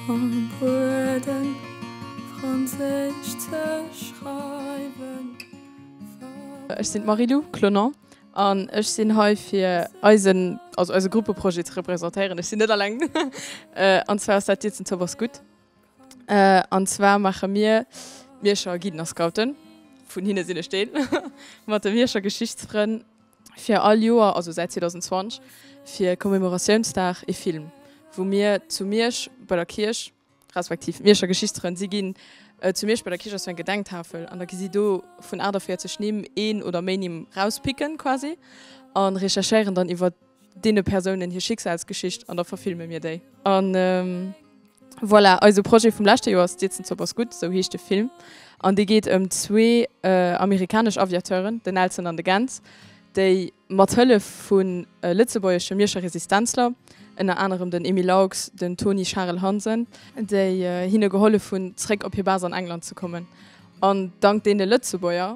Vum Bueden franséisch ze schreiwen vergiess. Ech sinn d'Marie-Lou Clonon an ech sinn hei fir eisen, also eise Gruppeprojet ze representéieren. Ech sinn net alleng an zwar ass dat d'Dietzentopp ass gutt. An zwar maache mir d'Mierscher Guiden-a-Scouten, vun hinne sinn ech deen, mat de Mierscher Geschichtsfrënn fir all Joer, also säit 2020, fir Commemoratiounsdag ee Film, wou mir zu Miersch bei der Kierch, respektiv d'Mierscher Geschichtsfrënn, si ginn, zu Miersch bei der Kierch ass sou eng Gedenktafel an da gi si do vun 48 Nimm een oder méi Nimm rauspicken quasi a recherchéieren dann iwwer deene Persounen hir Schicksalsgeschicht an da verfilme mir déi. A voilà, eise Projet vum leschte Joer ass D'Siezen Zopp ass gutt, esou heescht de Film. An dee geet ëm zwee amerikanesch Aviateuren, den Nelson an de Gent, déi mat Hëllef vu lëtzebuergesche Mierscher Resistenzler, ënner anerem den Emile Laux, den Toni Charel Hansen, déi hinne gehollef hunn, zeréck op hir Base an England ze kommen. An dank deene Lëtzebuerger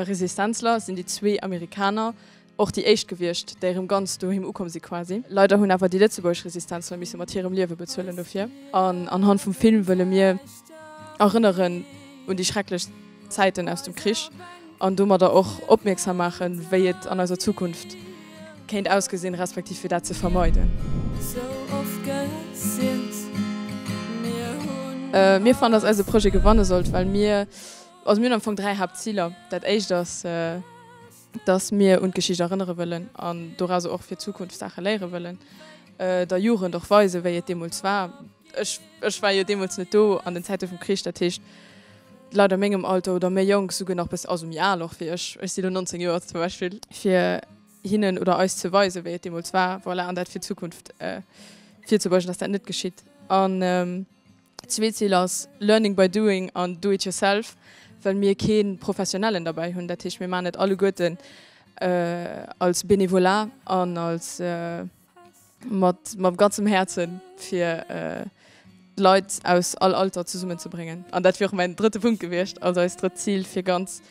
Resistenzler sinn déi zwee Amerikaner Och déi éischt gewiescht, déi erëm ganz doheem ukomm si quasi. Leider hunn awer déi lëtzebuergesch Resistenzler misse mat hirem Liewe bezuelen dofir. An anhand vum Film wëlle mir erënneren un déi schrecklech Zäiten aus dem Krich an domadder och opmierksam maachen, wéi et an eiser Zukunft kéint ausgesinn, respektiv fir dat ze vermeiden. Mir fannen, dass eise Projet gewanne sollt, well mir, also mir hunn am Fong dräi Haaptziler. Dat éischt ass. dass mir un d'Geschicht erënnere wëllen an doraus och fir d'Zukunft Saache léiere wëllen, der Jugend och weisen, wéi et deemools war. Ech, ech war jo deemools net do an den Zäite vum Krich, dat heescht, d'Leit a mengem Alter oder méi jonk, souguer nach e bësse, also méi al och wéi ech, ech si lo 19 Joer zum Beispill, fir hinnen oder eis ze weisen, wéi et deemools war, voilà, an dat fir d'Zukunft virzebeugen, dass dat net geschitt. An. Zwee Zil ass Learning by doing an Do it yourself, well mir kee Professionellen derbäi hunn. Dat heescht, mir maachen et alleguerten als Bénévolat an als mat mam ganzem Häerze fir d'Leit aus all Alter zesummen ze bréngen. An dat wier och mäin drëtte Punkt gewiescht, also eist drëtt Zil, fir ganz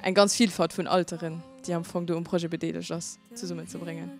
eng ganz Vilfalt vun Alteren, déi am Fong do um Projet bedeelegt ass, zesummen ze bréngen.